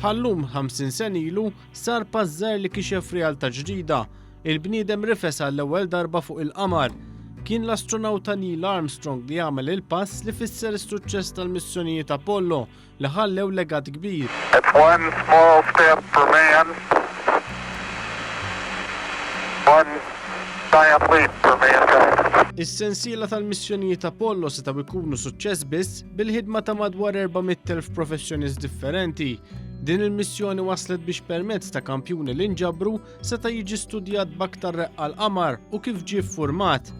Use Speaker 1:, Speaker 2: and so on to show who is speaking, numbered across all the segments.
Speaker 1: Bħal-lum 50 sen ilu sar pass żgħir li kixef realtà ġdida. Il-bniedem rifes għall-ewwel darba fuq il-qamar. Kien l-astronawta Neil Armstrong li għamel il-pass li fisser is-suċċess tal-missjonijiet Apollo li ħallew legat kbir. It's one
Speaker 2: small step for man, one giant leap for mankind. Is-sensiela
Speaker 1: tal-missjonijiet Apollo setgħu jkunu suċċess biss bil-ħidma ta' madwar 400,000 professjonist differenti Din il-missjoni waslet biex permezz ta' kampjuni li nġabru seta' jiġi studjat baktar reqqa l-qamar u kif ġie format.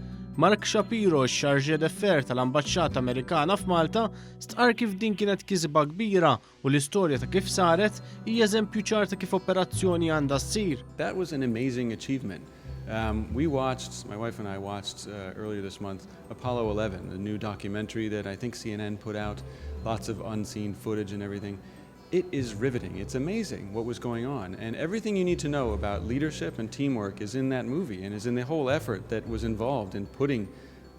Speaker 1: Mark Shapiro, x-xarġe defer tal-Ambaxxata Amerikana f'Malta, Stqarr kif din kienet kisba kbira u l-istorja ta' kif saret hija eżempju ċar ta' kif operazzjoni għandha ssir. That was an amazing
Speaker 3: achievement. Um, we watched, my wife and I watched uh, earlier this month Apollo 11, a new documentary that I think CNN put out, lots of unseen footage and everything. It is riveting, it's amazing what was going on and everything you need to know about leadership and teamwork is in that movie and is in the whole effort that was involved in putting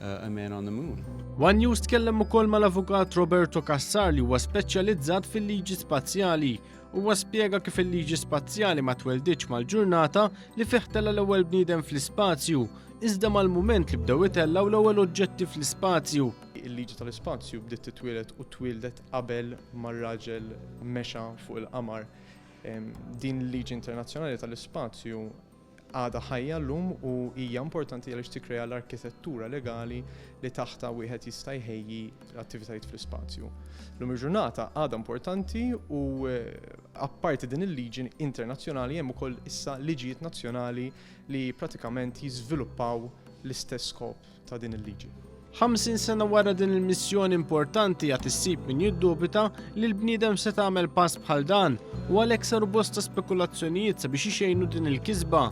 Speaker 3: uh, a man on the moon. One News tkellem
Speaker 1: ukoll mal-avukat Roberto Cassar li huwa speċjalizzat fil-liġi spazjali. Huwa spjega kif il-liġi spazjali ma tweldiċ mal-ġurnata li fih tella l-ewwel bniedem fl-ispazju, iżda mal-mument li bdew itellaw l-ewwel oġġetti fl-ispazju. Il-liġi tal-ispazju
Speaker 4: bdiet titwielet u twildet qabel ma r-raġel mexa fuq il-qamar. Din il-liġi internazzjonali tal-ispazju għadha ħajja llum u hija importanti għaliex tikkrea l-arkitettura legali li taħtha wieħed jista' jħejji l-attivitajiet fl-ispazju. Llum il-ġurnata għadha importanti u eh, apparti din il-liġi internazzjonali hemm ukoll issa liġijiet nazzjonali li pratikament jiżviluppaw l-istess skop ta' din il-liġi. Ħamsin sena
Speaker 1: wara din il-missjoni importanti għad issib min jiddubita li l-bniedem se tagħmel pass bħal dan u għalhekk saru bosta spekulazzjonijiet sabiex ixejnu din il-kisba.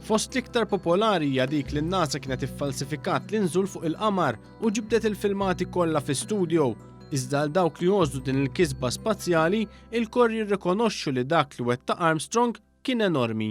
Speaker 1: Fost l-iktar popolari hija dik li n-NASA kienet iffalsifikat l-inżul fuq il-qamar u ġibdet il-filmati kollha fi studio. Iżda għal dawk li jozdu din il-kisba spazjali, il-kor jirrikonoxxu li dak li wetta Armstrong kien enormi.